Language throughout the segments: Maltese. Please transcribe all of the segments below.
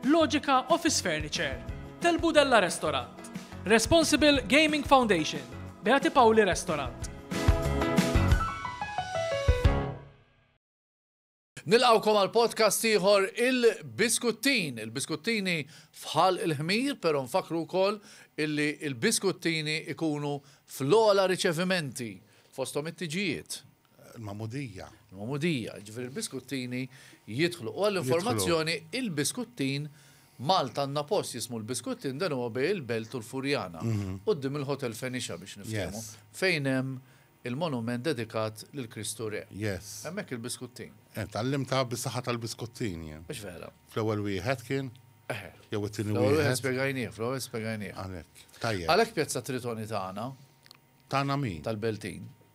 Logica Office Furniture, Tel Budella Restaurant, Responsible Gaming Foundation, Beati Pauli Restaurant. Nilqawkom għal podcast ieħor il-Biskuttin. Il-Biskuttini fħal il-ħmir, pero nfakru wkoll illi il-Biskuttini ikunu fl-ola riċevimenti fostom it-tiġijiet. Il-magħmudija. Il-magħmudija, ġifieri l-biskuttini jidħlu. U għall-informazzjoni, il-biskuttin Malta għandna post jismu l-biskuttin dan huwa bej il-Belt u l-Furjana. Mhm. Qudiem il-Hotel Fenixa biex nifhmu. Fejn hemm il-monument dedikat lil Kristu Re. Yes. Hemmhekk il-biskuttin. Eh, Tallimta bis-saħħa tal-biskuttin jien. Mhux vera. Fl-ewwel wieħed kien? Eh. Jew it-tieni wieħed. Fl-ewwel wieħed spjegajnieh, fl-ewwel spjegajnieh. Għalhekk. Tajjeb. Għalhekk pjazza tritoni tagħna. Tagħna min? Tal-Beltin.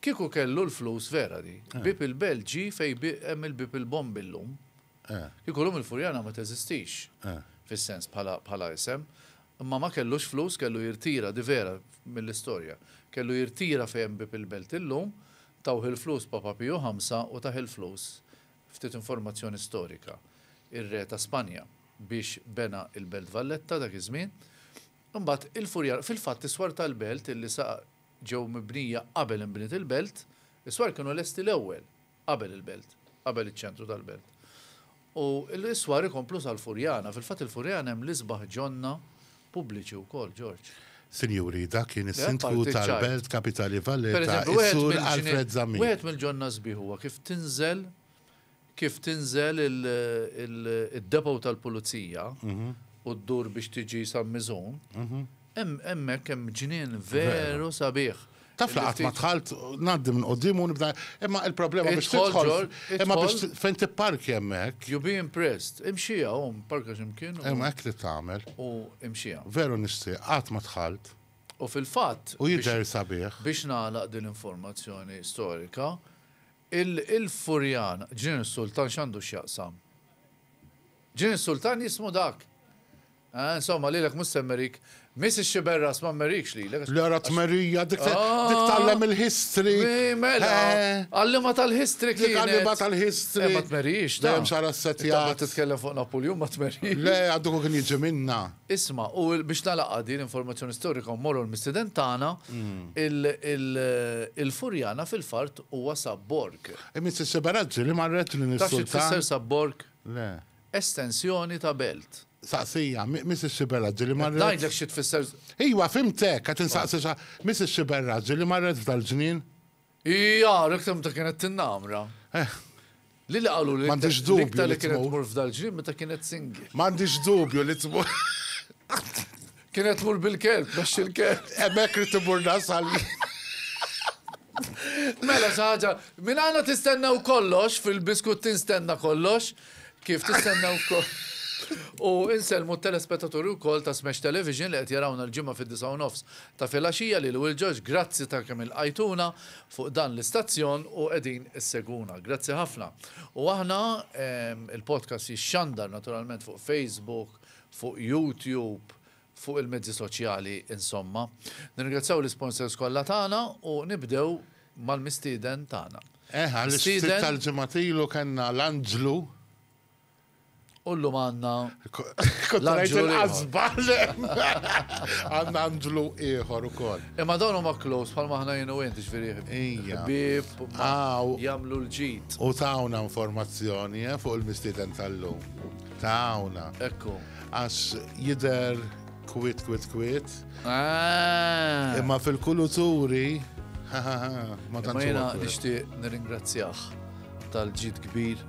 Kieku kellu l-flus vera di. Bieb il-Belt ġie fejn hemm il-Bieb il-Bombi llum. Kieku llum il-Furjana ma teżistix fis-sens bħala isem. Imma ma kellux flus, kellu jirtira, di vera mill-istorja. Kellu jirtira fejn hemm Bieb il-Belt illum, tawh il-flus Papa Piju Ħamsa u tah il-flus, ftit informazzjoni storika, ir-Re ta' Spanja biex bena il-Belt Valletta dak iż-żmien. Imbagħad il-Furjana, fil-fatt iswar tal-Belt illi sa ġew mibnija qabel inbniet il-belt, is-swar kienu lesti l-ewwel qabel il-belt, qabel iċ-ċentru tal-belt. U l-iswar ikomplu sal-Furjana. Fil-fatt il-Furjana hemm l-isbaħ ġonna pubbliċi wkoll, Ġorġ. Sinjuri, dak kien is-Sindku tal-Belt Kapitali Valletta, is-Sur Alfred Zammit. Wieħed mill-ġonna sbieħ huwa kif tinżel Kif tinżel id-depot tal-pulizija u ddur biex tiġi San Miżun, hemmhekk hemm ġnien veru sabiħ. Taf li qatt ma dħalt, ngħaddi minn quddiem u nibda, imma l-problema biex tidħol, imma biex fejn tipparkja hemmhekk. You'll be impressed. Imxiha u parka x'imkien. Imma hekk trid tagħmel. U imxiha. Veru nixtieq, qatt ma dħalt. U fil-fatt. U jidher sabiħ. Biex nagħlaq din l-informazzjoni storika, Il-Furjan, Ġnien is-Sultan x'għandu x'jaqsam? Ġnien is-Sultan jismu dak! Eeh, insomma, lilek mhux se mmerik. Miss ix-xiberras ma mmerikx lilek għax. Le ara tmerija, dik tgħallem il-history! Eeh, mela! Għalliema tal-history kienet! Dik għalliema tal-history! Eeh, ma tmerix, ta! Dejjem xagħarha ssetjat! Intant qed titkellem fuq Napuljun, ma tmerix! Le, għad dak hu kien jiġi minnha! Isma', u biex nagħlaqha din l-informazzjoni storika u mmorru għall-mistiden tagħna, il-Furjana fil-fart Huwa sab borg. Imiss is-seberazzi li marret lin is-sultan. Taf xi tfisser sab borg? Le. Estensjoni ta' belt. Saqsija, miss is-seberazzi li marret. Qed ngħidlek xi tfisser. Iwa, fhimtek, qed insaqsi sa. Miss is-seberazzi li marret f'dal-żmien. Hi għarek ta' meta kienet tinnamra. Eh. Lili qalu li M'għandix dubju li l-iktar li kienet tmur. tmur f'dal-ġnien meta kienet single. M'għandix dubju li tmur. Kienet tmur bil-kelb, mexxi l-kelb. Hemmhekk ridt immur nasal jien. Mela xi ħaġa, minn għandna tistennew kollox, fil-Biskuttin stenna kollox, kif tistennew f'kol. U insellmu t-telespettaturi wkoll ta' Smash Television li qed jarawna l-Ġimgħa fid-disgħa u nofs ta' filgħaxija, lili u lil George, grazzi ta' kemm ilqajtuna, fuq dan l-istazzjon u qegħdin issegwuna. Grazzi ħafna. U aħna, il-podcast jixxandar naturalment fuq Facebook, fuq YouTube, fuq il-mezzi soċjali insomma. Nirringrazzjaw l-isponsors kollha tagħna u nibdew mal-mistieden tagħna. Eħe, għall-istieden tal-ġimgħat ilu kellna l-Anġlu. U llum għandna Kontrajt il-qasba. Għandna Andlu ieħor ukoll. Imma dawn huma close bħal maħna jien u int ġifieri. Ija. Bib jagħmlu l-ġid. U tawna informazzjoni eh, fuq il-mistieden tal-lum. Tawna. Ekku. Għax jidher kwit kwit kwit. Ah. Imma fil-kuluturi ma tantx. Imma jiena nixtieq nirringrazzjah tal-ġid kbir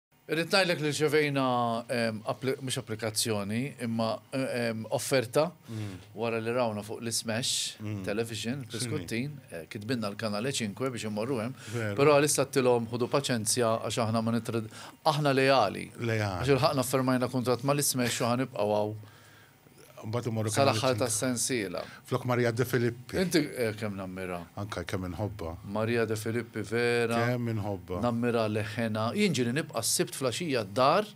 Irrid ngħidlek li rċevejna mhux applikazzjoni imma offerta wara li rawna fuq l-ismash television fl-iskuttin, kitbilna l-kanal e cinque biex immorru hemm, però għalissa għedtilhom ħudu paċenzja għax aħna ma aħna leali. Għax ilħaqna ffermajna kuntratt mal-ismash u ħa nibqgħu hawn Mbagħad imorru kemm Sal-aħħar tas-sensiela. Flok Maria De Filippi. Inti eh, kemm nammira. Anka kemm inħobba. Maria De Filippi vera. Kemm inħobba. Nammira leħena. Jien ġieli nibqa' s-sibt flaxija d-dar.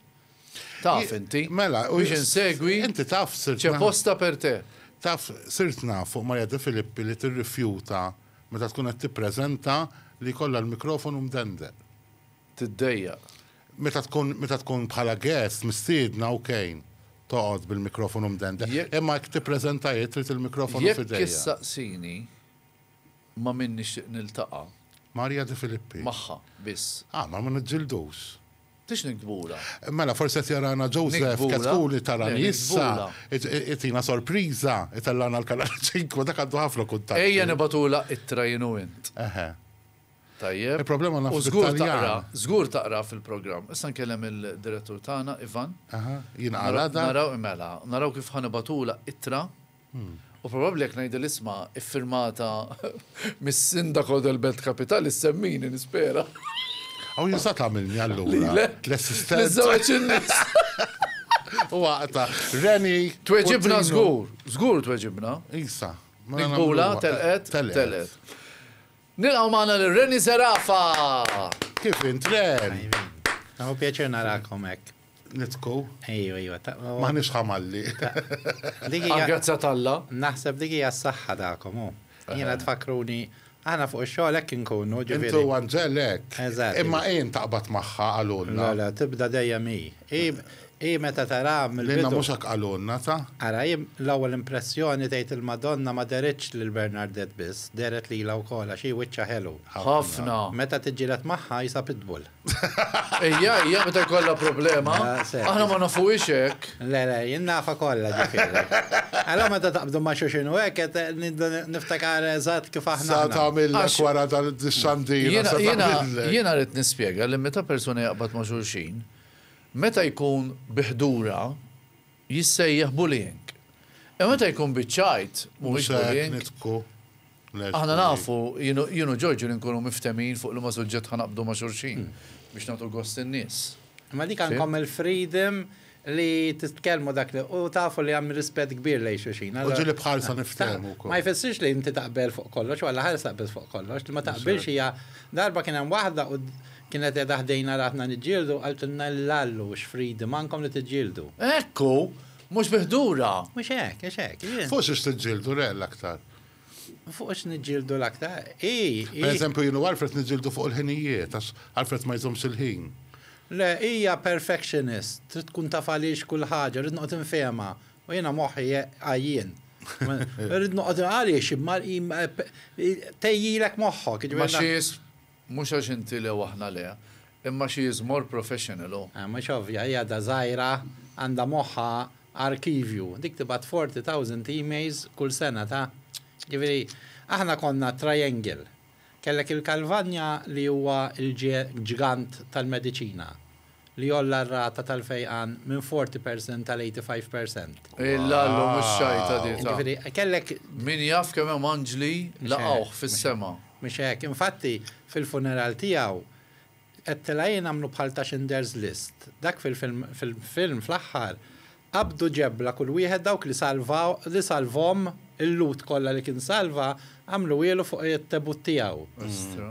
Taf inti. Mela, u biex insegwi. Inti taf sirt. Ċe posta per te. Taf sirt naf fuq Maria De Filippi li tirrifjuta meta tkun qed tippreżenta li kollha l-mikrofonu mdendel. tiddejjaq. Meta tkun meta tkun bħala guest mistiedna ok toqgħod bil-mikrofonu mdendel. Imma jekk tippreżenta hi trid il-mikrofonu f'idejha. Jekk issaqsini ma' min nixtieq niltaqa'. Marija De Filippi. Magħha biss. Ah, mela ma niġġildux. Tridx niktbulha? Mela forsi qed jarana Joseph Ketkun itarani issa, itina sorpriża, itellgħana l-Kanal 5, dak għandu ħafna kuntatti. Ejja nibgħatulha ittra jien u int. Eħe. Tajjeb. Il-problema naf Taljan. Żgur taqra fil-programm. Issa nkellem il-direttur tagħna Ivan. Aha, jien għala da. Naraw imela, naraw kif ħanibatula ittra. Hmm. U probabbli jekk ngħidu l-isma iffirmata mis-sindaku del Belt Kapitali semmini nispera. Aw jinsa tagħmilni allura. L-assistenza. U għaqta, Reni. Tweġibna żgur, żgur tweġibna. Isa. Bula telqet, telqet. Nilqgħu magħna lil Renny Zerafa! Kif int, Ren? Tajbin. Hu pjaċir narakom hekk. Nidħku? Ejju, ejju. M'aħniex ħamalli. Għall-grazzja t'Alla. Naħseb dik hija s-saħħa tagħkom, hu. Jiena tfakkruni Aħna fuq ix-xogħol hekk inkunu, ġifieri. Inti u Anġel hekk. Eżatt. Imma hi ntaqbad magħha qalulna. Le, le, tibda dejjem hi. Hi, hi meta taraha mill-bidu. Lilna mhux hekk qalulna, ta? Ara, hi, l-ewwel impressjoni tgħid il-Madonna ma dehritx lil Bernardet biss, dehret lilha wkoll għax hi wiċċha ħelu. Ħafna. Meta tiġġieled magħha hi sa pitbull. Hija, hija meta jkollha problema. Aħna ma nafuhiex hekk. Le, le, jien nafha kollha ġifieri. Allura meta taqbdu ma' xulxin u hekk qed nibda niftakar eżatt kif aħna aħna. Sa tagħmillek wara dal-xandira, sa tagħmillek. Jiena, jiena, jiena rrid nispjega li meta persuna jaqbad ma' xulxin, Meta jkun bi ħdura, jissejjaħ bullying. Imma meta jkun biċ-ċajt, mhuwiex bullying. Aħna nafu, jien u Ġorġu li nkunu mifthemhin fuq liema suġġett ħa naqbdu ma' xulxin biex nagħtu gost lin-nies. Imma dik għandkom il-freedom li titkellmu dak li, u tafu li hemm rispett kbir lejn xulxin. U ġieli b'ħarsa niftehmu wkoll. Ma jfissirx li inti taqbel fuq kollox, u għall-aħħar issa taqbilx fuq kollox. Li ma taqbilx hija, darba kien hemm waħda u, Kienet qiegħda ħdejna ratna niġġieldu, qaltilna l-Lallu, X'fridi m'għandkom li tiġġieldu? Hekk hu! Mhux bi ħdura! Mhux hekk, mhux hekk. Jien. Fuq xiex tiġġieldu, re, l-aktar? Fuq x'qed niġġieldu l-aktar? Hi, hi. Pereżempju, jien u Alfred niġġieldu fuq il-ħinijiet, għax Alfred ma jżommx il-ħin. Le, hija perfectionist, trid tkun taf għaliex kull ħaġa, rrid noqgħod infehemha, u jiena moħħi għajjien. Rrid noqgħod, għaliex, tgħejjilek moħħok, jiġifieri. Ma xiex Mhux għax inti le u aħna le, imma she is more professional hu. Mhux ovvja, hi għadha żgħira, għandha moħħha arkivju. Dik tibgħat forty thousand emails kull sena ta'. Jiġifieri, aħna konna triangle. Kellek il-Calvagna li huwa l-ġgant tal-mediċina. li għolla r-rata tal-fejqan minn 40 percent għal 85 percent. Illallu mhux xajta di ta'. Jiġifieri kellek. Min jaf kemm hemm anġli laqgħuh fis-sema. Mhux hekk. Infatti, fil-funeral tiegħu, qed tilgħin għamlu bħal ta' Schinders List. Dak fil-film fl-aħħar Qabdu ġebla kull wieħed dawk li salvaw, li salvhom, il-Lut kollha li kien salva, għamluhielu fuq it-tebut tiegħu.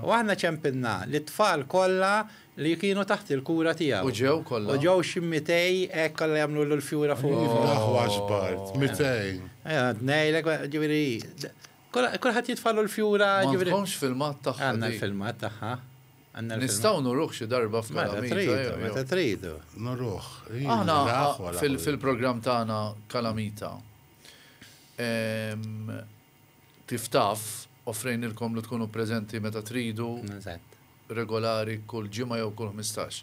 U aħna ċempilna lit-tfal kollha li kienu taħt il-kura tiegħu. U ġew kollha. U ġew xi mitej hekk kollha jagħmluhielu l-fjura fuq il-. Iva, aħwa xbart, mitej. Għad ngħidlek, ġifieri, kulħadd jitfagħlu l-fjura, ġifieri. M'għandkomx filmat tagħha dik? Għandna l-filmat tagħha. Nistgħu nuruh xi darba f'Kalamita jew. Meta tridu, nuruh. Aħna fil-programm tagħna Kalamita, kif taf, offrejnilkom li tkunu preżenti meta tridu, regolari, kull ġimgħa jew kull ħmistax.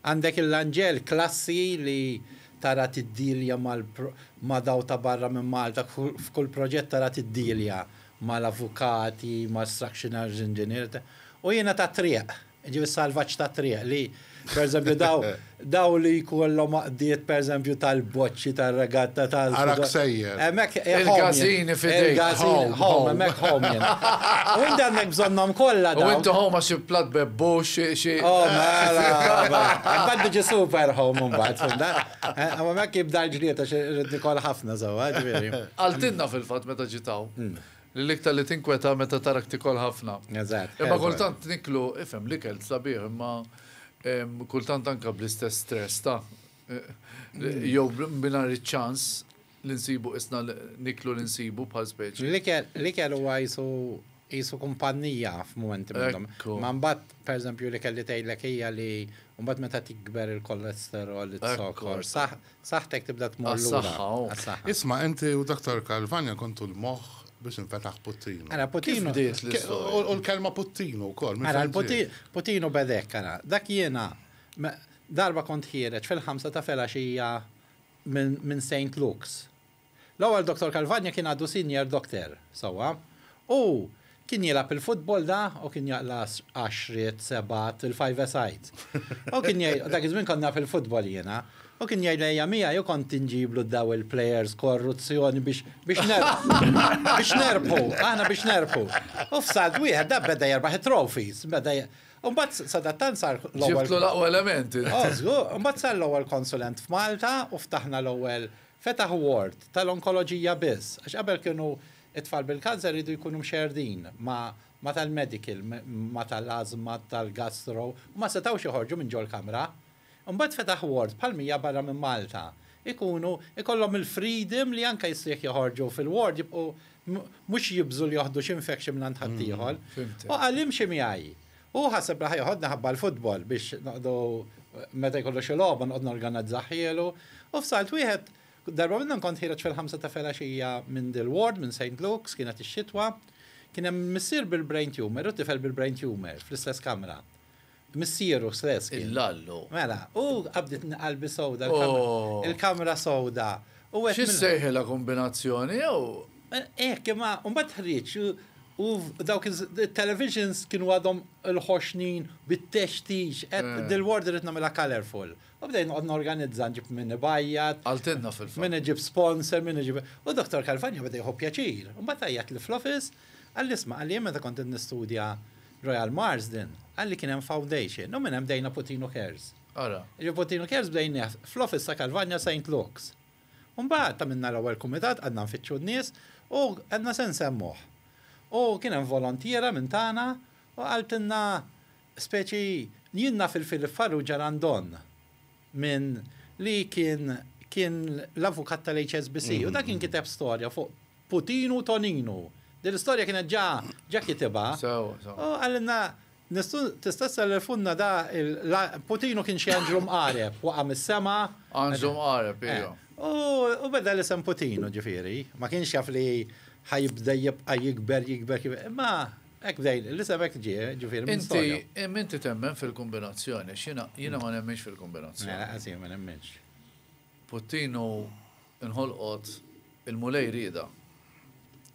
Għandek il-Lanġel, klassi li tara tiddilja ma' dawk ta' barra minn Malta, f'kull proġett tara tiddilja mal-avukati, mal-structioners engineers, u jiena tat-triq, jiġifieri s-salvaġġ tat-triq li, pereżempju, dawk li jkollhom Diet per eżempju tal-boċċi tar-regatta tal. Ara ksejjer. Hemmhekk Il-gazini fidejk. Il-gazini home, hemmhekk home jien. U inti għandek bżonnhom kollha dawn. U inti home għax xi platt bebbux, xi. Oh mela, imbagħad tiġi super home imbagħad, fimta? U hemmhekk jibda l-ġlied għax irrid nikol ħafna sewwa, ġifieri. Qaltilna fil-fatt meta ġiet hawn. Li l-iktar li tinkweta meta tarak tikol ħafna. Eżatt. Imma kultant niklu, ifhem, l-ikel sabiħ imma kultant anke bl-istess stress ta' jew mingħajr iċ-ċans li nsibu qisna niklu li nsibu bħal speċi. L-ikel huwa qisu qisu kumpannija f'mumenti minnhom. Ma mbagħad pereżempju li kelli tgħidlek hija li mbagħad meta tikber il-kolesterol, iz-zokor, Saħħtek tibda tmur lura. Għas-saħħa, oh. Għas-saħħa. Isma' inti u Doktor Calvagna kontu l-moħħ biex infetaħ Puttinu. Ara, Puttinu. Kif bdiet l-istorja? U l-kelma Puttinu wkoll. minn Ara, fejn l-Puti- ġiet? Putinu bedek, ara. Dak jiena, me- darba kont ħiereġ fil-ħamsa ta' filgħaxija minn minn St. Luke's. L-ewwel Doktor Calvagna kien għadu Sinjor Dokter, sewwa. Hu kien jilgħab il-futbol da u kien jaqlas għaxriet, sebgħat, il-five-a-side. Hu kien jgħid, dak iż-żmien kont naf il-futbol jiena. Hu kien jgħidli ejja miegħi u kont inġiblu daw il-plejers korruzzjoni biex, biex nerbħu. Biex nerbħu, aħna biex nerbħu. U f'salt wieħed da beda jerbaħ it-trophies, beda je. U mbagħad sadattant sar l-ewwel. Ġibtlu l-aqwa element int. O żgur, u mbagħad sar l-ewwel konsulent f'Malta u ftaħna l-ewwel Fetaħ ward tal-onkoloġija biss, għax qabel kienu t-tfal bil-kanser iridu jkunu mxerrdin ma' tal-medical, ma' tal-ażma, tal-gastro, u ma setgħux joħorġu minn ġol-kamra. Imbagħad fetaħ ward bħal mija barra minn Malta. Ikunu, ikollhom il-freedom li anke issa jekk joħorġu fil-ward jibqgħu mhux jibżgħu li joħdu xi infection mingħand ħaddieħor. U qal imxi miegħi. Hu ħaseb li ħa joħodni ħabba l-futbol biex noqogħdu meta jkollu xi logħba noqgħod norganazzahhielu u f'salt wieħed darba minnhom kont ħiereġ fil-ħamsa ta' felaxija minn Dilward, minn Saint Luke's, kienet ix-xitwa. Kien hemm missier bil-brain tumour u tifel bil-brain tumour fl-istess kamra. Missieru stess kien. Il-lallu. Mela, u qabditni qalbi sewda l-kamra. Ohh. Il-kamra sewda. U għedt. Xi ssejħilha kumbinazzjoni jew? Hekk, imma mbagħad ħrieġ u U dawk it-televisions kienu għadhom il-ħoxnin bit-textix, qed dil-ward irrid nagħmilha colorful. U bdejt noqgħod norganizza, nġib min ibajjat. Qaltilna fil-fatt. Min iġib sponsor, min iġib. U Dottor Calvagno beda jieħu pjaċir. Imbagħad għajjatli fl-office, qalli isma', qalli jien meta kont qed nistudja Royal Marsden, qalli kien hemm foundation u minn hemm bdejna Putino Cares. Ara. Jiġifieri Putino Cares bdejnieh fl-office ta' Calvagno Saint Luke's. Imbagħad għamilna l-ewwel kumitat, qgħadna nfittxu n-nies u għedna se nsemmuh. U kien hemm volontiera minn tagħna u qaltilna speċi, jien naf il-Philip Farrugia Randon minn li kien kien l-avukat tal-HSBC u dak kien kiteb storja fuq Putinu u Toninu. Din l-istorja kienet ġa ġa kitibha. U qalilna Nistgħu, tista' ssellfunna da il, Putinu kien xi anġlu mqareb, waqa' mis-sema. Anġlu mqareb, iva. U beda l-isem Putinu, ġifieri, ma kienx jaf li ħa jibda jibqa' jikber, jikber, jikber, imma hekk bda, l-isem hekk ġie, ġifieri minn storja. Inti, imma inti temmen fil-kombinazzjoni, għax jiena, jiena ma nemminx fil-kombinazzjoni. Mela, ħa sir ma nemminx. Puttin u nħolqot il-Mulej riedha.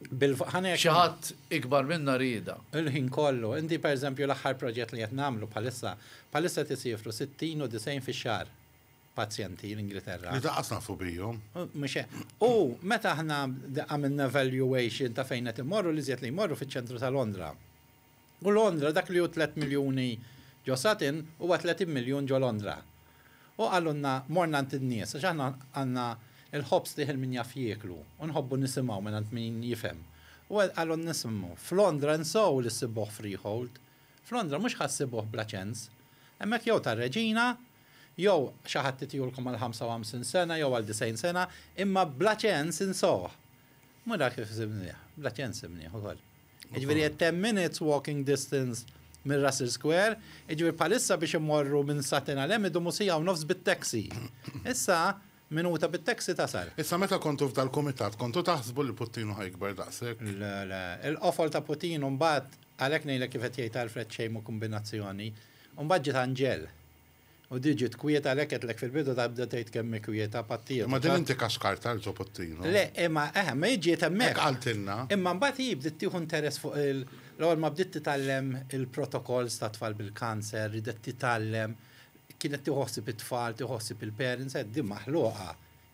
Bil-fqħan hekk. Xi ħadd ikbar minna riedha. Il-ħin kollu. Inti pereżempju l-aħħar proġett li qed nagħmlu bħalissa, bħalissa qed isiefru sittin u disgħin fix-xahar pazjenti l-Ingilterra. Li daqqas nafu bihom. Mhux hekk. U meta aħna għamilna evaluation ta' fejn qed imorru l-iżjed li jmorru fiċ-ċentru ta' Londra. U Londra, dak li hu tliet miljuni ġo Sutton, huwa tletin miljun ġo Londra. U qalulna morna għand in-nies, għax aħna għandna l-ħobż li ħin min jaf jieklu, u nħobbu nisimgħu mingħand min jifhem. U qalulna ismgħu, f'Londra insow li ssibuh freehold. F'Londra mhux ħa ssibuh bla ċens. Hemmhekk jew tar-Reġina, jew xi ħadd itihulkom għal ħamsa u ħamsin sena jew għal disgħin sena, imma bla ċens insowh. Mhu dak kif sibnieh, bla ċens sibnieh ukoll. Jiġifieri a ten minutes walking distance minn Russell Square, jiġifieri bħalissa biex immorru minn Sutton għal hemm idumu siegħa u nofs bit-taxi. Issa, minuta bit-taxi tasal. Issa meta kontu f'dal-kumitat kontu taħsbu li Puttinu ħa jikber daqshekk? Le, le. Il-qofol ta' Putin u mbagħad, għalhekk ngħidlek kif qed jgħid Alfred xejn mhu kumbinazzjoni, u mbagħad ġiet Anġel. U di ġiet kwieta għalhekk għedtlek fil-bidu ta' bda tgħid kemm hi kwieta pattieta. Imma din inti kaskartha lil Zopottino. Le, imma eħe, imma hi ġiet hemmhekk. Hekk qaltilna. Imma mbagħad hi bdiet tieħu interess fuq il, l-ewwel ma bdiet titgħallem il-protokolls tat-tfal bil-kanser, ridet titgħallem, kienet tieħu ħsieb it-tfal, tieħu ħsieb il-parents, għedt din maħluqa.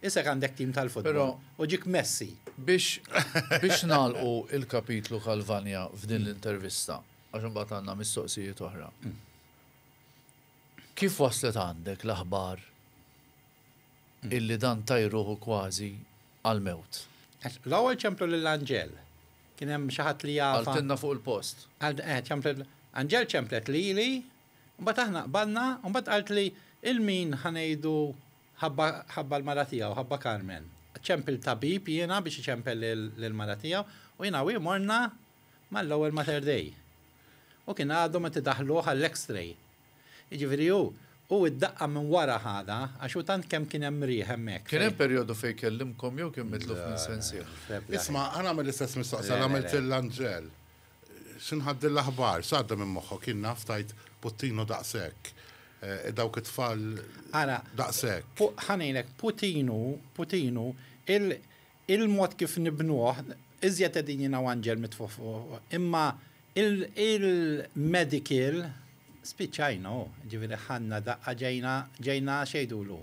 Isek għandek tim tal-futbol u ġiek Messi. Biex, biex nagħlqu il-kapitlu Calvania f'din l-intervista, għax imbagħad għandna mistoqsijiet oħra. Kif waslet għandek l-aħbar illi dan tajr ruħu kważi għall-mewt? L-ewwel ċemplu lil Anġel. Kien hemm xi ħadd li jaf. Qaltilna fuq il-post. Anġel ċemplet lili, mbagħad aħna qbadna, u mbagħad qaltli 'il min ħa ngħidu ħabba l-mara tiegħu, ħabba Carmen. Ċempil tabib jiena biex iċempel lill-mara tiegħu, u jiena u hi morna mal-ewwel Mater Dei. U kien għadhom qed idaħħluh għall-X-ray. Jiġifieri hu, hu id-daqqa minn wara ħadha għax hu tant kemm kien hemm riħ hemmhekk fejn. Kien hemm perjodu fejn kellimkom jew kien mitluf minn sensieh? Isma', ħa nagħmel l-istess mistoqsija li għamilt lil Angel. X'inħadd din l-aħbar? X'għadda minn moħħok? Jien naf tajt puttinu daqshekk. Dawk it-tfal daqshekk. Ara, ħa ngħidlek, puttinu, puttinu, Il-mod kif nibnuh, iżjed qegħdin jingħu anġel mitfugħ fuq, imma il-medical spiċċajna hu, jiġifieri ħadna daqqa ġejna ġejna x'jgħidulu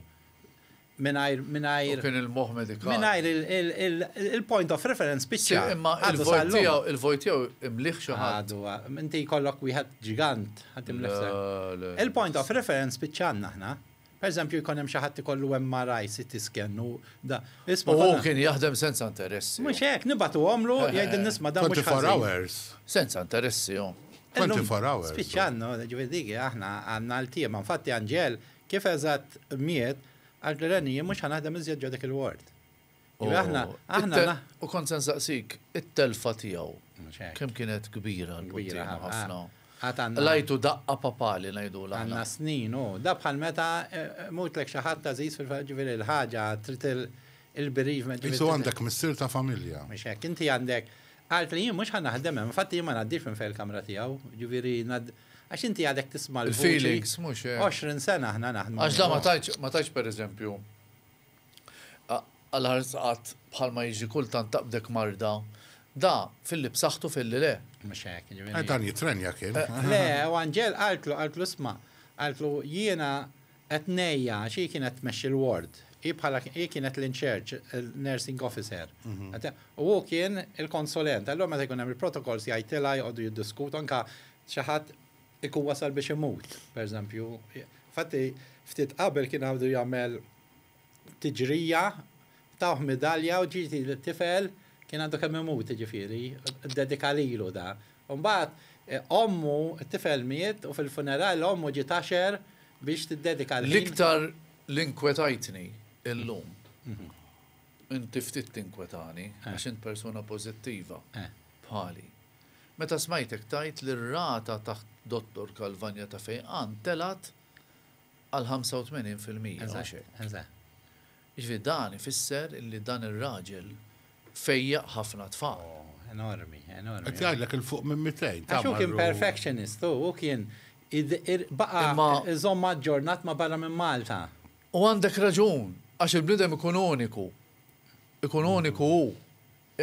mingħajr mingħajr U kien il-moħħ medikali. mingħajr il-point of reference spiċċa. Imma il-vojt tiegħu il-vojt tiegħu imlieh xi ħadd. Għadu, inti jkollok wieħed ġigant ħadd imlieh sew. Le, le. Il-point of reference spiċċajna aħna. Pereżempju, jkun hemm xi ħadd ikollu MRI, CT scan u da. U hu kien jaħdem senza interessi. Mhux hekk, nibagħtuhomlu, jgħidilna isma' dan mhux ħażin. Senza interessi hu. Spiċċa għandna, jiġifieri dik hi aħna għandna ltiema. Infatti Anġel kif eżatt miet, qaltlu Reni jien mhux ħa naħdem iżjed ġo dik il-ward. Aħna, aħna. U kont se nsaqsik, it-telfa tiegħu kemm kienet kbira l-kbira ħafna. Lajtu daqqa papali ngħidu l Għandna snin u da bħal meta eh, eh, mutlek xi ħadd tażiż fil-ġifieri l-ħaġa trid il-bereavement. Insu għandek missier ta' familja. Mhux hekk, inti għandek għalt li jien mhux ħa naħdem hemm, infatti jien ma ngħaddix minn fejn il-kamra tiegħu, ġifieri għax inti għadek tisma' l-feelings mhux 20 eh. sena aħna naħdmu. Għax da ma tajċ ma tajx pereżempju Għall-ħares qatt, bħalma jiġri kultant taqbdek marda. Da, filli b'saħħtu filli le. Mhux hekk, jiġifieri. Eh, dan jittrenja kien. Le, u anġel qaltlu, qaltlu isma', qaltlu jiena qed ngħejja għax hi kienet tmexxi l-ward. Hi bħala hi kienet l-in-charge, il-nursing officer. U hu kien il-konsulent. Allura meta jkun hemm il-protocols jgħidtilha joqogħdu jiddiskutu anke xi ħadd ikun wasal biex imut, pereżempju. Infatti ftit qabel kien għadu jagħmel tiġrija, tawh midalja u ġiet tifel kien għandu kemm imut jiġifieri, ddedika lilu da. U mbagħad ommu, it-tifel miet u fil-funeral ommu ġiet għaxer biex tiddedika l-ħin. L-iktar li nkwetajtni illum, inti ftit tinkwetani għax int persuna pożittiva bħali, meta smajtek tgħid li r-rata taħt Dottor Calvagna ta' fejqan telgħet għal 85 fil-mija, mhux hekk? Jiġifieri dan ifisser li dan ir-raġel fejjaq ħafna tfal. Qed jgħidlek 'il fuq minn 200. Għax hu kien perfectionist hu, hu kien baqa' iżomm aġġornat ma' barra minn Malta. U għandek raġun, għax il-bniedem ikun uniku, ikun uniku hu,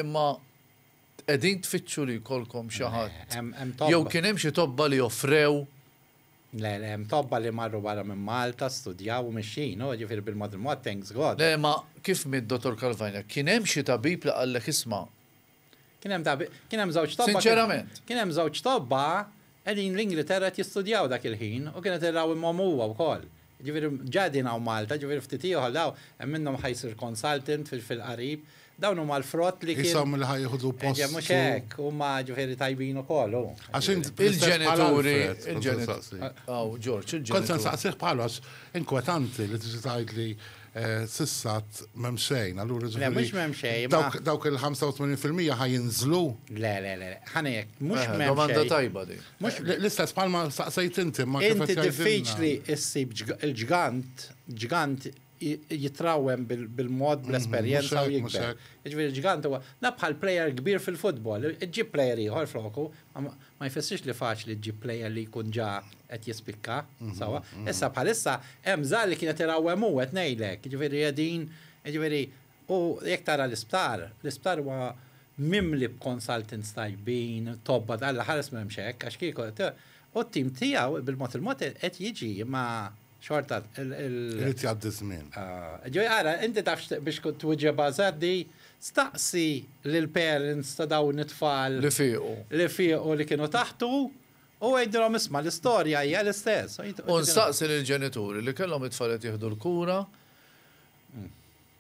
imma qegħdin tfittxu li jkollkom xi ħadd, jew kien hemm xi tobba li offrew Le, le, hemm tobba li marru barra minn Malta, studjaw u mixjin, u jiġifieri bil-mod il-mod, thanks God. Le, ma kif miet Dottor Calvagna, kien hemm xi tabib li qallek isma'. Kien hemm tabib, kien hemm żewġ tobba. Sinċerament. Kien hemm żewġ tobba qegħdin l-Ingliterra qed jistudjaw dak il-ħin u kien qed irawimhom huwa wkoll. Jiġifieri ġa qegħdin hawn Malta, jiġifieri ftit ieħor dawn hemm minnhom ħa jsir consultant fil-qarib Dawn huma l-frott li kienu. Isom li ħaj jieħdu post. Eġe, mhux hekk, huma ġifieri tajbin ukoll. Għax il-ġenituri. Aw, Ġorġ, il-ġenituri. Kont se nsaqsih bħalox inkwetanti li tiġi tgħid li eh, sissat m'hemm xejn, allura ġifieri. Mhux m'hemm xejn. Dawk il-85% ħaj jinżlu. Le, le, le, ħanejek, mhux eh, m'hemm. Domanda tajba di. L-istess bħalma saqsejt inti ma kif. Inti diffiċli issib il-ġgant, ġgant jitrawwem bil-mod, bl-esperjenza u jikber. Jiġifieri ġgant huwa, la bħal plejer kbir fil-futbol, iġġib plejer ieħor floku, ma jfissirx li faċli ġġib plejer li jkun ġa qed jispikka, sewwa. Issa bħalissa hemm żgħar li kien qed irawwem hu, qed ngħidlek, jiġifieri qegħdin, jiġifieri u jekk tara l-isptar, l-isptar huwa mimli b'consultants tajbin, tobba, Alla ħares m'hemmx hekk, għax kieku, u t-tim tiegħu bil-mod il-mod qed jiġi, imma. Xorta il- Irid jgħaddi ż-żmien. Ah, ġej ara, inti taf x'ti- biex kont twiġibha żgħar di, staqsi lill-parents ta' dawn it-tfal Li fiequ. li fiequ li kienu taħtu u għidilhom isma' l-istorja hija l-istess. U nstaqsi lill-ġenituri li kellhom it-tfal qed jieħdu l-kura,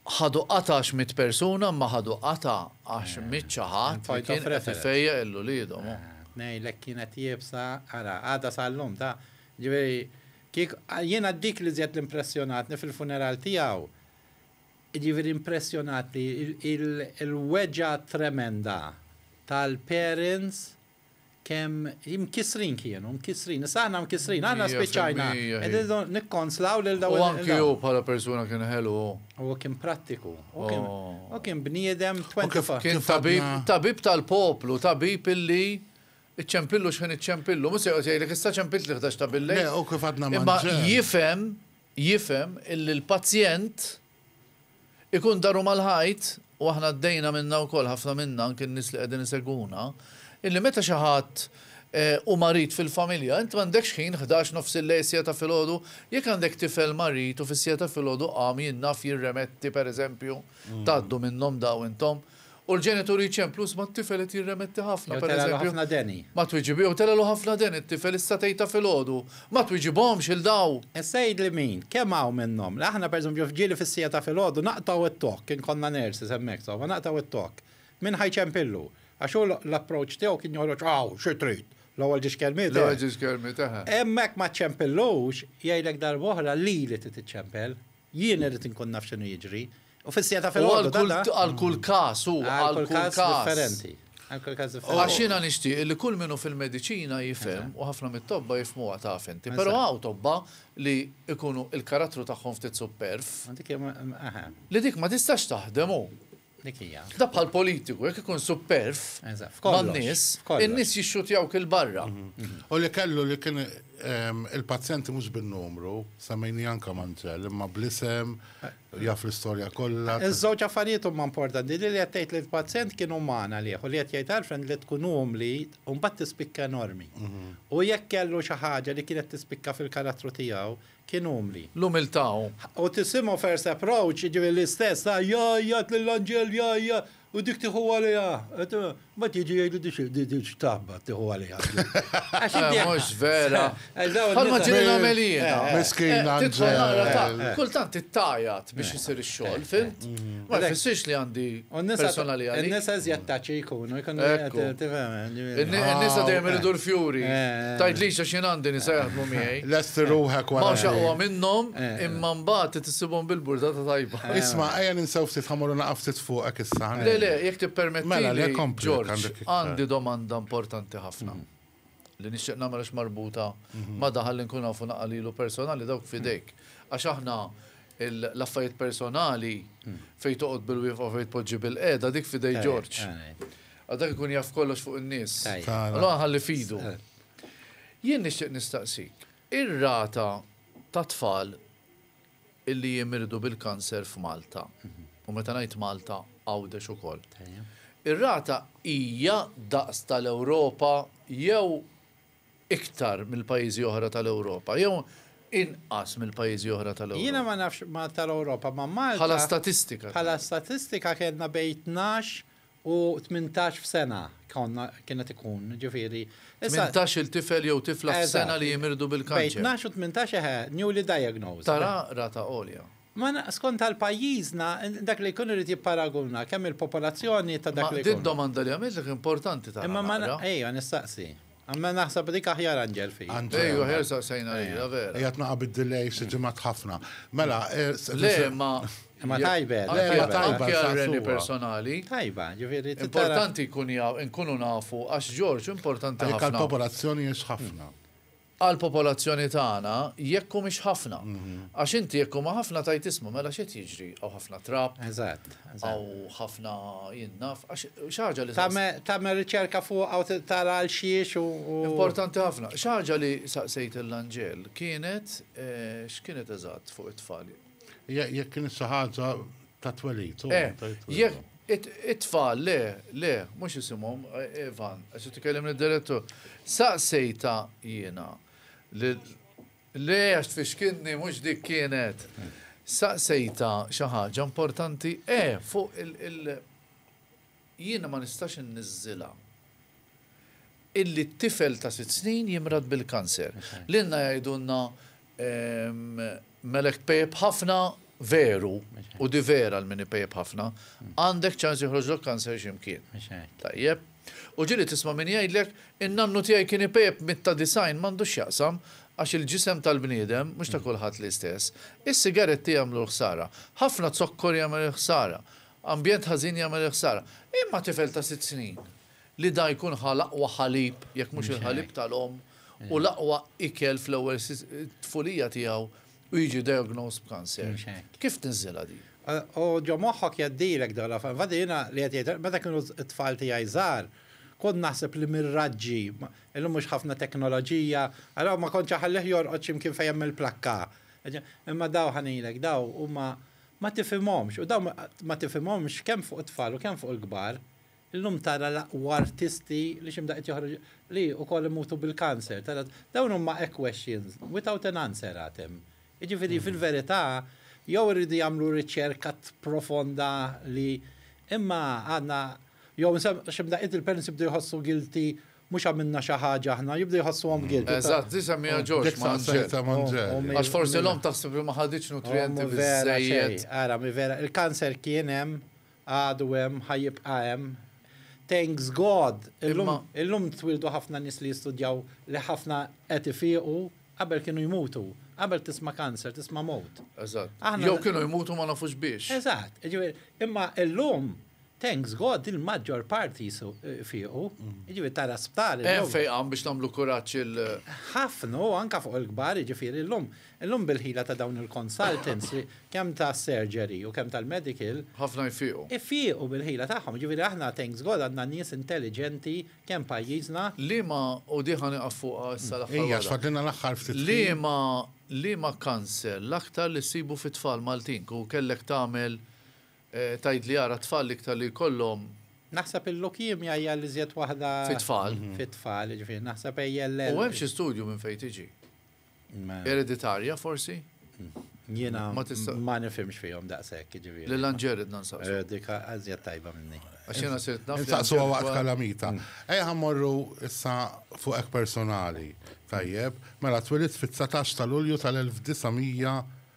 Ħadu qatgħa għax miet persuna, ma ħadu qatgħa għax miet xi ħadd li kien qed ifejjaq il uliedhom u. Ngħidlek kienet iebsa, ara, għadha sal-lum ta', ġifieri, kieku, jiena dik li żjed impressjonatni fil-funeral tiegħu, ġifieri impressjonatni il-weġgħa tremenda tal-parents, kemm imkissrin kienu, mkissrin, issa aħna mkissrin, aħna spiċċajna, qegħdin nikkonsolaw lil dawn. U anki hu bħala persuna kien ħelu. Huwa kien prattiku, u kien bniedem 24. Kien tabib, tabib tal-poplu, tabib illi iċċempillu x'ħin iċċempillu, mhux se joqgħod jgħidlek issa ċempilt li ħdax ta' billejl. Imma jifhem, jifhem illi l-pazjent Ikun daru mal-ħajt, u aħna għaddejna minnha wkoll ħafna minna anke n-nies li qegħdin isegwuna, illi meta xi ħadd hu marid fil-familja, int m'għandekx ħin ħdax nofsillejl siegħa ta' filgħodu? Jekk għandek tifel marid u fis-siegħa ta' filgħodu qam jien naf jirremetti pereżempju, tgħaddu minnhom dawn intom, U l-ġenituri jċemplu, isma' t-tifel qed jirremetti ħafna, per eżempju, ma twiġib, jew telgħelu ħafna deni t-tifel, issa tgħidha filgħodu, ma twiġibhomx 'il daw! Issa għidli min, kemm hawn minnhom, li aħna per eżempju f'ġieli fis-siegħa ta' filgħodu naqtgħu t-tokk, inkonna nurses hemmhekk, insomma, naqtgħu t-tokk. Min ħa jċempillu? Għax hu l-approach tiegħu kien joħroġ, aw, xi trid, l-ewwel ġiex kelmiet, eħe. L-ewwel ġiex kelmiet, eħe. Imma jekk ma ċċempillux, jgħidlek darb'oħra, lili trid iċċempel, jien irrid inkun naf x'inhu jiġri, U fis-sija ta' filgħodu ta' dan. Għal kull każ hu, għal kull każ differenti. Għal kull każ differenti. Għax jiena nixtieq li kull min hu fil-mediċina jifhem u ħafna mit-tobba jifhmuha taf inti. Però hawn tobba li jkunu l-karattru tagħhom ftit supperv. Li dik ma tistax taħdem hu. Dik hija. Da bħal politiku, jekk ikun supperv man-nies, in-nies jixxutjawk il-barra. U li kellu li kien il-pazjenti mhux bin-numru, semmejni anke Manzell, imma bl-isem. Jaf l-istorja kollha. Iż-żewġ affarijiet huma importanti, li li qed tgħid li l-pazjent kien uman għalih u li qed jgħid Alfred li tkun umli u mbagħad tispikka enormi. Hu jekk kellu xi ħaġa li kienet tispikka fil-karattru tiegħu, kien umli. L-umiltà hu. U tisimgħu first approach, jiġifieri l-istess ta' jgħajjat lill-anġel, jgħajjat. U dik tiħu għaliha, ma tiġi jgħidu dik xtabba tiħu għaliha. Mhux vera. Bħalma ġiri nagħmel jien. Miskina. Kultant ittajat biex isir ix-xogħol, fimt? Ma jfissirx li għandi personali għal. Nisa żjed taċi jkunu, jkunu Nisa dejjem iridu l-fjuri. Tajt li xi għandi nisa jaħdmu miegħi. Lest ruħek wara. Ma xaqwa minnhom imma mbagħad Sibhom bil-burdata tajba. Isma', ejja ninsew ftit ħa morru naqa' ftit fuqek issa, ħa ngħidlek. Le, le, jekk tippermettili, Ġorġ, għandi domanda importanti ħafna li nixtieq nagħmel għax marbuta ma' daħal li nkun nafu naqa' lilu personali dawk f'idejk. Għax aħna l-affarijiet personali fejn toqgħod bil-wieqfa u fejn tpoġġi bil-qiegħda dik f'idej Ġorġ. Għax dak ikun jaf kollox fuq in-nies. Allura ħalli f'idu. Jien nixtieq nistaqsik. Ir-rata ta' tfal illi jimirdu bil-kanser f'Malta, u meta ngħid Malta, Għawdex ukoll, ir-rata hija daqs tal-Ewropa jew iktar mill-pajjiżi oħra tal-Ewropa jew inqas mill-pajjiżi oħra tal-Ewropa? Jiena ma nafx Malta l-Ewropa, imma Malta. Bħala statistika. Bħala statistika kellna bejn tnax U tmintax f'sena konna kienet ikun, ġifieri. Tmintax-il tifel jew tifla f'sena li jimirdu bil-kanċer. Bejn tnax u tmintax eħe, newly diagnosed. Tara rata għolja. Ma skont għal pajjiżna, dak li jkun irid jipparaguna kemm il-popolazzjoni ta' dak li jkun. Ma din domanda li għamiltlek importanti tara naqra. Imma ma, ejja nistaqsi. Imma naħseb dik aħjar Anġel fija. Anġel. Ejju, aħjar saqsejna lilha, vera. Qiegħed naqa' bid-delay xi ġimgħat ħafna. Mela, Le, imma. Imma tajba. Le, imma tajba. Anke għal Reni personali. Tajba, ġifieri. Importanti jkun jaf, inkunu nafu għax Ġorġ importanti ħafna. Anke għall-popolazzjoni hiex ħafna. Għall-popolazzjoni tagħna jekk humiex ħafna. Għax inti jekk huma ħafna tgħid isma' mela x'qed jiġri hawn ħafna trab. Eżatt. Għaw ħafna jien naf, għax xaġa li. Tagħmel riċerka fuq għaw tara għal xiex u. Importanti ħafna. Xaġa li saqsejt l-Anġel kienet x'kienet eżatt fuq it-tfal. Jekk kienet xi ħaġa ta' twelid. Eh, it-tfal le, le, mhux isimhom Evan, għax tikellimni d-direttur. Saqsejta jiena Le, għax tfixkilni, mhux dik kienet. Saqsejtha xi ħaġa importanti, eh, fuq il-, jiena ma nistax inniżżilha illi t-tifel ta' sitt snin jimrad bil-kanser. Lilna jgħidulna, ehm, Melek Pep ħafna veru, u di vera għal min ipejjep ħafna, għandek ċans joħroġlok kanser xi mkien. Tajjeb? U ġieli tisma' min jgħidlek, in-nannu tiegħi kien ipejjep mit ta' disgħin, m'għandux x'jaqsam, għax il-ġisem tal-bniedem mhux ta' kulħadd l-istess. Is-sigaretti jagħmlu l-ħsara. Ħafna zokkor jagħmel il-ħsara. Ambjent ħażin jagħmel il-ħsara. Imma tifel ta' sitt snin li da jkun ħa l-aqwa ħalib, jekk mhux il-ħalib tal-omm, u l-aqwa ikel fl-ewwel tfulija tiegħu, U jiġi diagnosed b'kanser. Mhux hekk. Kif tniżżilha din? U ġo moħħok jgħaddilek dan l-affar. Infatti jiena li qed jgħid, meta kienu t-tfal tiegħi żgħar, kont naħseb li mir-raġġi, illum mhux ħafna teknoloġija, allura ma kontx iħallih jorqod xi mkien fejn hemm il-plakka. Imma daw ħa ngħidlek, daw huma ma tifhimhomx, u daw ma tifhimhomx kemm fuq it-tfal u kemm fuq il-kbar. Illum tara l-aqwa artisti li x'imda qed joħroġ li ukoll imutu bil-cancer. Tara dawn huma hekk questions without an answer għad hemm. Jiġifieri fil-verità jew irridu jagħmlu riċerka profonda li imma għadna jew x'imda qed il-parents jibdew jħossu guilty mhux għamilna xi ħaġa aħna jibdew jħossuhom guilty. Eżatt, di semmiha George ma' Angel. Għax forsi l-omm taħseb li ma ħaditx nutrijenti biżżejjed. Ara, mi vera, il-cancer kien hemm Għadu hemm, ħa jibqa' hemm. Thanks God! Illum, Imma. illum twieldu ħafna nies li jistudjaw li ħafna qed ifiequ, qabel kienu jmutu. Qabel tisma' cancer, tisma' mewt. Eżatt. Aħna. Jew kienu jmutu ma nafux biex. Eżatt. Jiġifieri, imma illum, thanks God, il-maġġor parti jsu, ifiequ. Jiġifieri tara sptari llum. Hemm fejqan biex nagħmlu kuraġġ il. Ħafna, u anke fuq il-kbar, jiġifieri llum. Illum bil-ħila ta' dawn il-consultants li kemm ta' surgery u kemm tal-medical. Ħafna jfiequ. Ifiequ bil-ħila tagħhom, jiġifieri aħna thanks God għandna nies intelliġenti kemm pajjiżna. Liema, u din ħa nieqaf fuqha issa l-aħħar waħda. Ejja, għax fadlilna l-aħħar ftit ħin. Liema, liema cancer l-aktar li ssibu fit-tfal Maltin? Kieku kellek tagħmel, tgħidli ara t-tfal l-iktar li jkollhom. Naħseb il-leukemia hija l-iżjed waħda. Fit-tfal. Fit-tfal, jiġifieri naħseb ALL. U hemm xi studju minn fejn tiġi. Ereditarja forsi? Jiena ma nifhimx fihom daqshekk jiġifieri. Lil Anġel ridna nsaqsu. Dik għażjed tajba minni. Għax jiena sirt naf. Insaqsu waqt kalamita. Ejja ħa mmorru issa fuq hekk personali. Tajjeb, mela twilidt fit-dsatax ta' Lulju tal-1900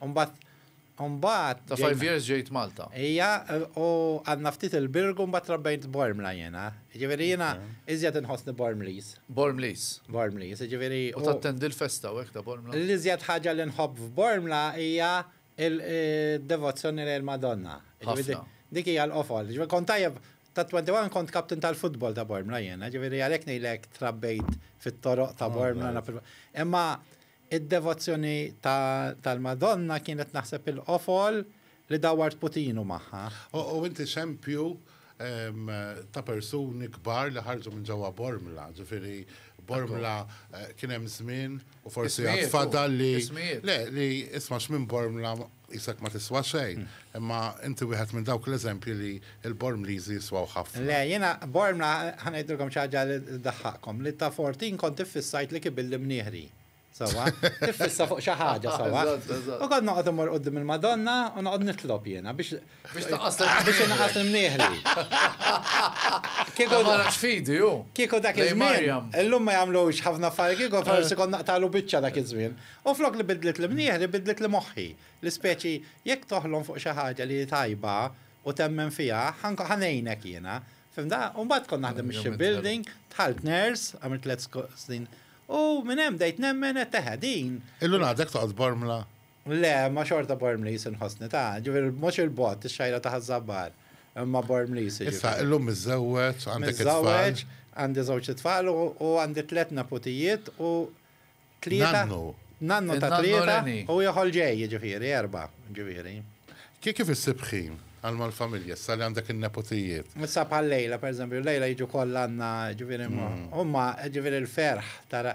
U mbagħad, u mbagħad. Ta' five years ġejt Malta. Ija, u għadna ftit il-Birgu mbagħad trabbejt Bormla jiena. Jiġifieri jiena iżjed inħossni Bormliż. Bormliż. Bormliż, jiġifieri. U tattendi l-festa u hekk ta' Bormla? L-iżjed ħaġa li nħobb f'Bormla hija d-devozzjoni lejn il-Madonna. Ħafna. Dik hija l-qofol. Jiġifieri kont tajjeb, tat-twenty one kont captain tal-futbol ta' Bormla jiena, jiġifieri għalhekk ngħidlek trabbejt fit-toroq ta' Bormla. Imma Id-devozzjoni tal-Madonna kienet naħseb il-qofol li dawwart putinu magħha. U inti xempju ta' persuni kbar li ħarġu minn ġewwa Bormla, ġifieri Bormla kien hemm żmien u forsi għad fadal li. Ismijiet. Le, li isma' x'minn Bormla. Qisek ma tiswa xejn, imma inti wieħed minn dawk l-eżempji li l-Bormliżi jiswaw ħafna. Le, jiena Bormla, ħa ngħidilkom xi ħaġa li ddaħħaqkom, li ta' Fortin kont iffissajt li kibilli mnieħri. Sewwa? Tiffissa fuq xi ħaġa, sewwa? U kont noqgħod immur quddiem il-Madonna u noqgħod nitlob jiena biex, Biex taqas biex inqas imnieħli. Kieku ma nafx fidi ju. Kieku dak iż-żmien. Illum ma jagħmlux ħafna affarijiet kieku forsi kont naqtalu biċċa dak iż-żmien. U flok li bidlet li mnieħli bidlet li moħħi. L-ispeċi jekk toħlom fuq xi ħaġa li hi tajba u temmen fiha, ħa ngħinek jiena. Fimta? U mbagħad kont naħdem ix-ship building, dħalt nurse, għamilt tliet snin. U minn hemm bdejt nemmen qed teħe din. Illum għadek toqgħod bormla. Le, imma xorta Bormliż inħossni ta', ġifieri mhux il-bogħod, ix-xajra ta' Ħaż-Żabbar, imma Bormliż jiġifieri. Issa, illum miżżewweġ, għandek it-tfal? Miżżewweġ, għandi żewġ itfal u għandi tliet neputijiet u tlieta. Nannu. Nannu ta' tlieta u ieħor ġej, jiġifieri erbgħa, jiġifieri. Kif issib ħin għal mal-familja issa li għandek in-neputijiet? Issa bħal lejla, pereżempju, lejla jiġu kollha għandna, jiġifieri huma, jiġifieri l-ferħ ta'.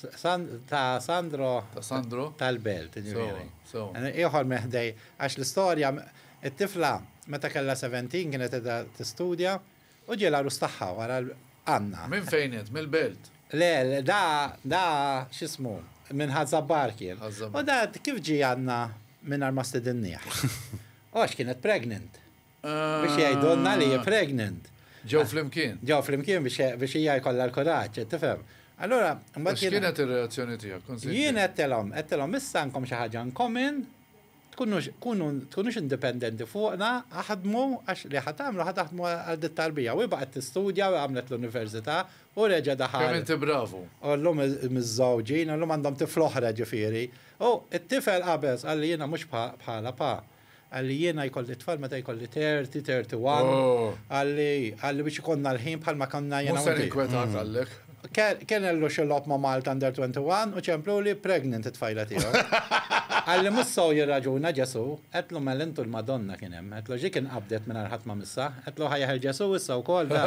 Ta' Sandro. Ta' Sandro. Tal-Belt, ġifieri. Ieħor meħdej, għax l-istorja, it-tifla meta kellha 17 kienet qiegħda tistudja u ġie l-għarus tagħha wara Anna. Minn fejn int? Mill-Belt? Le, da, da, x'ismu, minn Ħaż-Żabbar kien. U da kif ġie għandna mingħajr ma stidinnieh? U għax kienet pregnant. Biex jgħidulna li hi pregnant. Ġew flimkien. Ġew flimkien biex hija jkollha l-kuraġġ, qed tifhem? Allura, imbagħad. U x'kienet ir-reazzjoni tiegħek? Kont se ngħid. Jien għedtilhom, għedtilhom issa għandkom xi ħaġa in common, tkunux, kunu, tkunux indipendenti fuqna, aħdmu, għax li ħa tagħmlu ħa taħdmu għal dit-tarbija. U hi baqgħet tistudja u għamlet l-università u reġa' daħal. Kemm inti bravu. U llum miżżewġin, u llum għandhom tifla oħra ġifieri. U t-tifel qabeż, qalli jiena mhux bħalha pa. Għalli jiena jkolli tfal meta jkolli 30, 31. Għalli, għalli biex ikonna l-ħin bħal ma konna jena. Musa rinkwetat għallek. Kien għallu xilop ma Malta under 21 u ċemplu li pregnant it-tfajla tiegħu. Għalli mussaw jirraġuna Ġesu, għetlu mel intu l-Madonna kien hemm, għetlu ġi kien qabdet minn ħadd ma missa, għetlu ħajħer Ġesu issa wkoll da.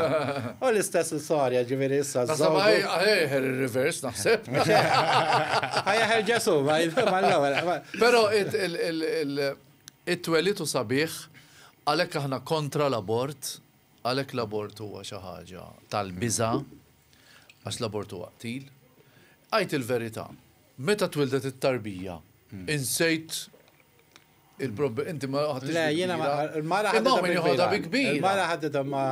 U l-istess l-sorja ġifieri issa. Nasab ħajħer ir-reverse naħseb. Ħajħer Ġesu, ma l-ewwel. Pero it-twelid hu sabiħ, għalhekk aħna kontra l-abort, għalhekk l-abort huwa xi ħaġa tal-biża' għax l-abort huwa qtil. Għid il-verità, meta twildet it-tarbija, insejt il-problema, inti ma ħadtix. Le, jiena mara ħadda bi kbira. Mara ħadda ma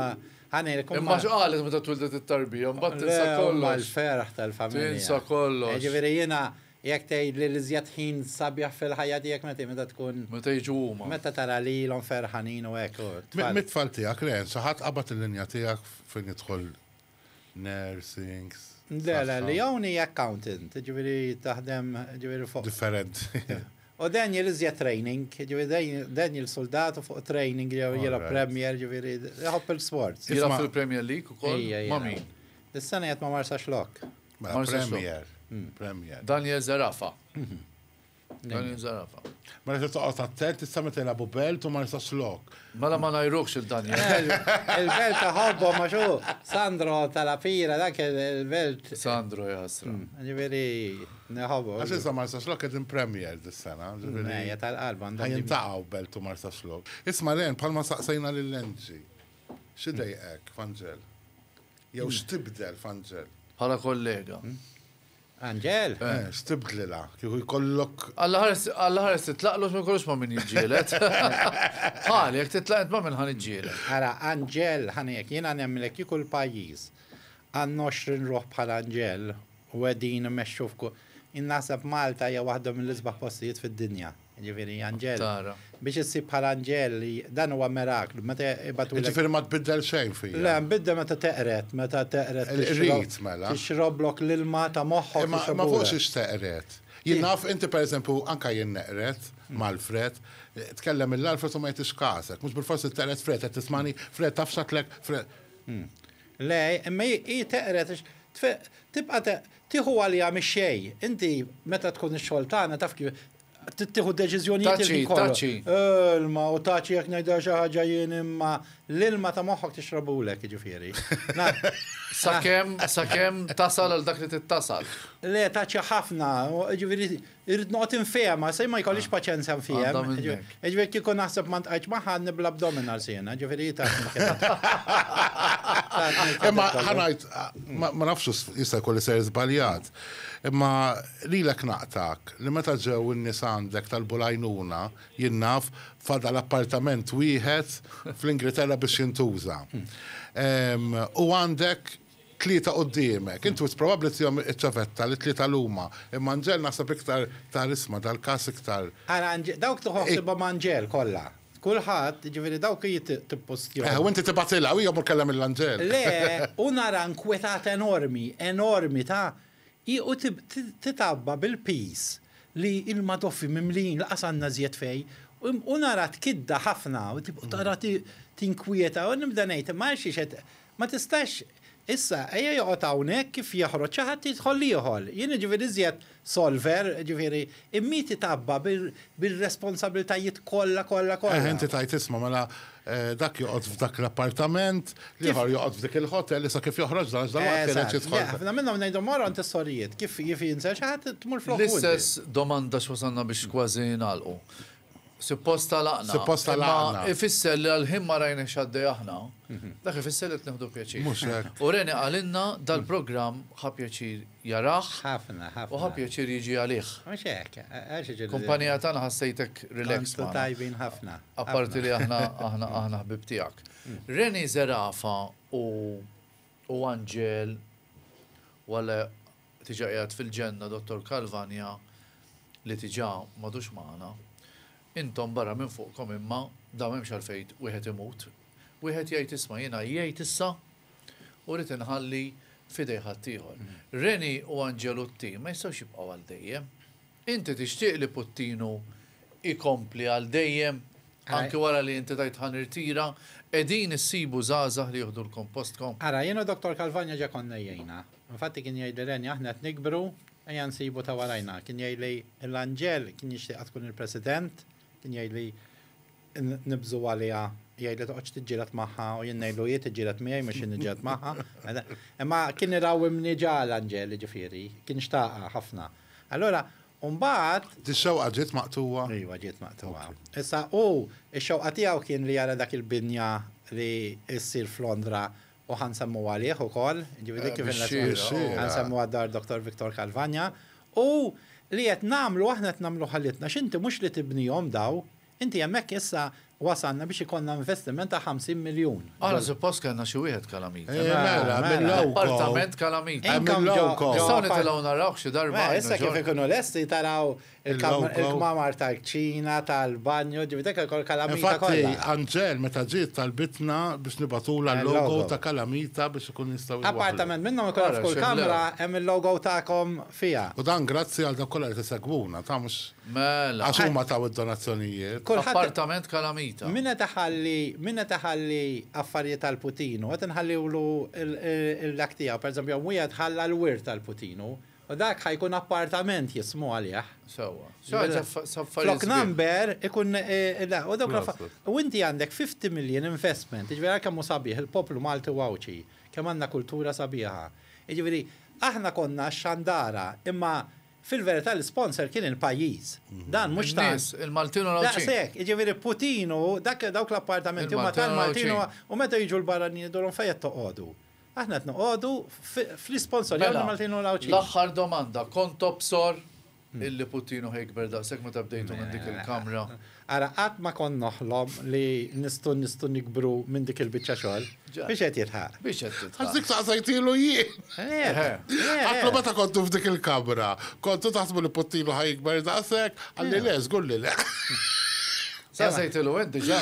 ħanejlek. Imma x'qalet meta twildet it-tarbija, mbagħad tinsa kollox. Mal-ferħ tal-familja. Tinsa kollox. Ġifieri jiena Jekk tgħidli l-iżjed ħin sabiħ fil-ħajja tiegħek meta meta tkun. Meta jiġu huma. Meta tara lilhom ferħanin u hekk u t-tfal. Mit-tfal tiegħek le, sa ħadd qabad il-linja tiegħek fejn jidħol nursing, saħħa. Le le, Leon hi accountant, jiġifieri taħdem jiġifieri fuq. Differenti. U Daniel iżjed training, jiġifieri Daniel suldat u fuq training jew jilgħob Premier jiġifieri iħobb il-sports. Jilgħob fil-Premier League ukoll? Ejja, ejja. Ma' min? Is-sena jgħid ma marsax lok. Mela, premier. Premier. Daniel Zarafa. Daniel Zarafa. Mela se toqgħod attent tista' meta jilagħbu belt u ma nistax lok. Mela ma ngħirux il-Daniel. Il-belt ta' ħobbu ma xu Sandro tal-Afira dak il-belt. Sandro jasra. Ġifieri neħobbu. Għax issa ma nistax lok qegħdin premier dis-sena. Ġifieri tal-qalba għandhom. Ħajjin taqgħu belt u ma nistax lok. Isma' len bħalma saqsejna lil Lenġi. X'idejqek, Fangel? Jew stibdel f'Angel. Bħala kollega. Angel? Eh, stibdlilha, kieku jkollok. Alla ħares titlaqlu ma jkollux ma' min jiġġielet. Bħal, jekk titlaq ma' min ħan iġġielet. Ara, Angel, ħanek, jiena nemmlek kieku l-pajjiż. Għandna 20 ruħ bħal Angel u qegħdin imexxu f'ku. Jien naħseb Malta hija waħda mill-isbaħ postijiet fid-dinja. Jiġifieri anġel. Tara. Biex issib bħala anġel, dan huwa miraklu, meta jbatulek. Jiġifieri ma tbiddel xejn fija. Le, nbiddel meta teqred, meta teqred. Qrid mela. Tixroblok l-ilma ta' moħħok. Imma ma fhux ix teqred. Jien naf, inti pereżempju, anke jien neqred mal-fred, tkellem mill-Alfred u ma jagħtix kasek. Mhux bilfors li teqred fred, qed tismagħni, fred, taf x'għedtlek, fred. Le, imma hi teqred għax tibqa' Tieħu għaliha mix-xejn. Inti meta tkun ix-xogħol tagħna taf kif trid tieħu deċiżjonijiet il-ħin kollu. Taċi, taċi. Ilma u taċi jekk ngħidha xi ħaġa jien imma l-ilma ta' moħħok tixrabulek, jiġifieri. Sakemm, sakemm tasal għal dak li trid tasal. Le, taċi ħafna, jiġifieri Irrid noqgħod infehemha, se ma jkollix paċenzja nfiehem. Għandha minnek. Jiġifieri kieku naħseb ma ntqajtx magħha għadni bl-abdominals jiena, ġifieri hi tatni l-kredit. Imma ħa ngħid, ma ma nafx s- jista' jkolli ser żbaljat, imma lilek naqtak li meta ġew in-nies għandek talbu l-għajnuna, jien naf, fadal appartament wieħed fl-Ingilterra biex jintuża. Ehm, u għandek Tlieta quddiemek. Int wis probabbli tihom iċ-ċavetta li t-tlieta lhuma, imma Anġel naħseb iktar ta' risma, dal-każ iktar. Ara Anġel, dawk tieħu ħsiebhom Anġel kollha. Kulħadd, jiġifieri dawk hi tippostjahom. Eħe, u inti tibgħatilha, u hija mmur tkellem lill-Anġel. Le, u nara nkwetat enormi, enormi ta' Hi u titgħabba bil-piż li l-madoffi mimlijin lanqas għandna żjed fejn u nara tkidda ħafna u tara tinkwieta u nibda ngħid imma għal xiex qed ma tistax issa ejja joqgħod hawnhekk kif joħroġ xi ħadd jidħol ieħor. Jien jiġifieri iżjed solver jiġifieri Immiet itgħabba bir-responsabbiltajiet kollha, kollha, kollha. Eħe, inti tgħid isma', mela dak joqgħod f'dak l-appartament, l-ieħor joqgħod f'dik il-ħotel, issa kif joħroġ dan għax dalwaqt kien qed jidħol. Eżatt. Le, ħafna minnhom ngħidhom mor għand is-sorijiet, kif jinser xi ħadd tmur flokhom inti. L-istess domanda x'wasalna biex kważi nagħlqu. Suppost għalaqna. Suppost għalaqna. Imma ifisser li għal-ħin ma rajna xaddej aħna, mhm. dak ifisser li t-nħdu pjaċir. U Reni għalinna dal-program ħa pjaċir jarax. ħafna, ħafna. U ħa pjaċir jiġi għalih. Kumpanija tana ħassejtek relax. Tajbin ħafna. Apparti li aħna aħna aħna ħbib tijak. Mm. Reni Zerafa u Angel wale Diġà qiegħed fil-ġenna Dottor Calvagna li diġà m'għadux magħna. Intom barra minn fuqkom imma dawn m'hemmx għalfejn wieħed imut. Wieħed jgħid isma' jien għajjejt issa u rrid inħalli f'idej ħaddieħor. Reni u Angelutti ma jistgħux jibqgħu għal dejjem. Inti tixtieq li Puttinu jkompli għal dejjem anki wara li inti tgħid ħa nirtira? Qegħdin issibu żgħażagħ li jieħdulkom postkom? Ara, jien u Dottor Calvagna ġa konna għajjejna. Infatti kien jgħidli Renja aħna qed nikbru, ejja nsibu ta' warajna. Kien jgħidli l-anġel kien jixtieqha tkun il-President, kien jgħidli nibżgħu għaliha, jgħidli toqgħodx tiġġieled magħha u jien ngħidlu hi tiġġieled miegħi mhux jien niġġieled magħha. Imma kien irawwimni ġa l-anġel, jiġifieri, kien xtaqha ħafna. Allura, u mbagħad. Dix-xewqa ġiet maqtugħa? Iva ġiet maqtugħa. Issa hu, ix-xewqa tiegħu kien li jara dak il-binja li ssir f'Londra U ħa nsemmu għalih ukoll, ġifieri dik kif ħa nsemmu għad-dar Dottor Victor Calvagna. U li qed nagħmlu aħna qed nagħmlu ħalitna x'inti mhux li tibnihom daw, inti hemmhekk issa wasalna biex ikollna investiment ta' 50 miljun. Aħna suppost kellna xi wieħed Kalamita. Mela, mela. Appartament Kalamita. Nistgħu nitilgħu narawh xi darba. Issa kif ikunu lesti taraw Il-kmamar tal-kċina, tal-banju, ġivi dak il-kol kalamita. Infatti, Anġel meta ġiet tal-bitna biex nibatula l-logo ta' kalamita biex ikun jistaw. Appartament minnhom ikun f'kull kamra hemm il-logo tagħkom fiha. U dan grazzi għal dawk kollha li tisegwuna, ta' mhux. Mela. Għax huma taw id-donazzjonijiet. Appartament kalamita. Min qed iħalli, min qed iħalli affarijiet għal Putinu, qed inħalliwlu l-dak tiegħu. Pereżempju, hemm wieħed ħalla l-wirt għal Putinu. U dak ħa jkun appartament jismu għalih. Sewwa. Flok number ikun u dawk l-affarijiet. U inti għandek 50 million investment, jiġifieri għal kemm hu sabiħ il-poplu Malti u Għawdxi, kemm għandna kultura sabiħa. Jiġifieri aħna konna x-xandara, imma fil-verità l-isponsor kien il-pajjiż. Dan mhux ta'. In-nies, il-Maltin u l-Għawdxin. Daqshekk, jiġifieri Putin u dawk l-appartamenti huma tal-Maltin u meta jiġu l-barranin jgħidulhom fejn qed toqgħodu. Aħna qed noqogħdu fl-isponsorjaw lill-Maltin u l-Għawdxin. Mela, l-aħħar domanda, kont tobsor illi Puttinu ħa jikber daqshekk meta bdejtu minn dik il-kamra? Ara, qatt ma kont noħlom li nistgħu nistgħu nikbru minn dik il-biċċa xogħol. Biex qed jilħaq. Biex qed jilħaq. Għax dik saqsejtielu jien. Għidtlu meta kontu f'dik il-kamra, kontu taħsbu li Puttinu ħa jikber daqshekk? Qalli le, żgur li le. Saqsejtielu int diġà?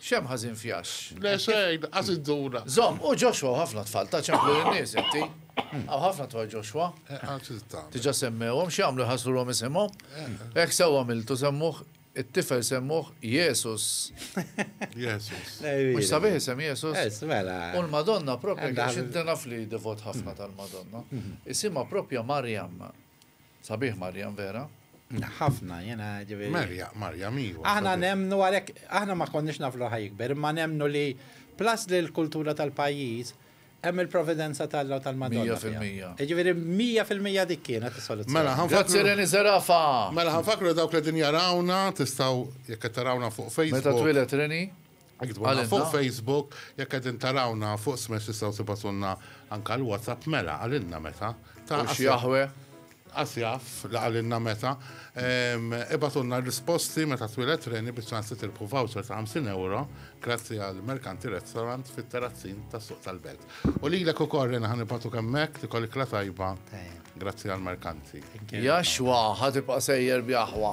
Xem ħażin fjax. Le xejn, għax idduna. Zom, u Joshua ħafna tfal ta' ċemplu n-nies inti. Għaw ħafna tfal Joshua. Tiġa semmewhom x'jagħmlu ħasrulhom isimhom. Hekk sewwa miltu semmuh it-tifel semmuh Jesus. Jesus. Mux sabiħ isem Jesus. Mela. U l-Madonna propja għax id-dena fli devot ħafna tal-Madonna. Isima propja Marjam. Sabiħ Marjam vera. Ħafna, jena ġivi. Marja, Marja, miju. Aħna nemnu għalek, aħna ma konniex naf l ħajikber, ma nemnu li plus li l-kultura tal-pajjiż hemm il-providenza tal-law tal-Madonna. 100%. Ġifieri 100% dik kienet is-soluzzjoni. Mela ħanfakru. Grazzi Reni Zerafa. Mela ħanfakru dawk li din jarawna tistgħu jekk qed tarawna fuq Facebook. Meta twilet Reni? Għalina. Fuq Facebook, jekk qegħdin tarawna fuq smash tistgħu tibatunna anka l-WhatsApp mela għalina meta. Ta' xi jaħwe. Asjaf li għalina meta. Ibatunna risposti meta twilet reni biex ċansi tilpu voucher ta' 50 euro grazzi għal Merkanti Restaurant fit-terrazzin tas suq tal-belt. U li l-ek u korren ħan ibatu kemmek li kolli kla tajba grazzi għal Merkanti. Jaxwa, ħatibqa sejjer bjaħwa.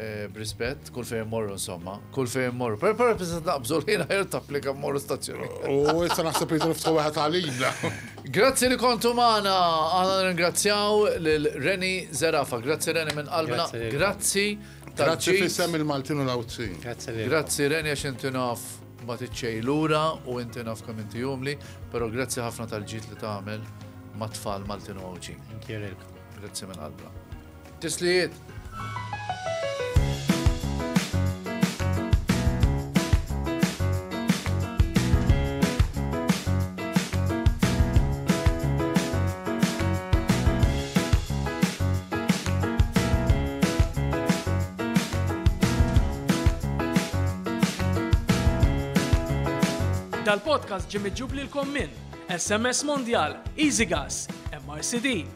Eh, b'rispett, kull fejn morru insomma, kull fejn morru. Per per biss naqbżu li jiena ħajr tapplika morru stazzjoni. U issa naħseb li niftħu wieħed għalina. Grazzi li kontu magħna, għana ringrazzjaw lil Reni Zerafa. Grazzi Reni minn qalbna. Grazzi. Grazzi fissem il-Maltin u l-Awzin. Grazzi Reni għax inti naf ma tiċċej lura u inti naf kemm inti jumli, pero grazzi ħafna tal-ġit li tagħmel ma' tfal Maltin u Għawġin. Grazzi minn qalbna. Tislijiet! Dal-podcast ġie miġġub lilkom minn SMS Mondial, EasyGas, MRCD,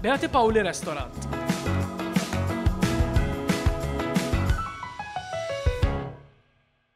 Beati Paoli Restaurant.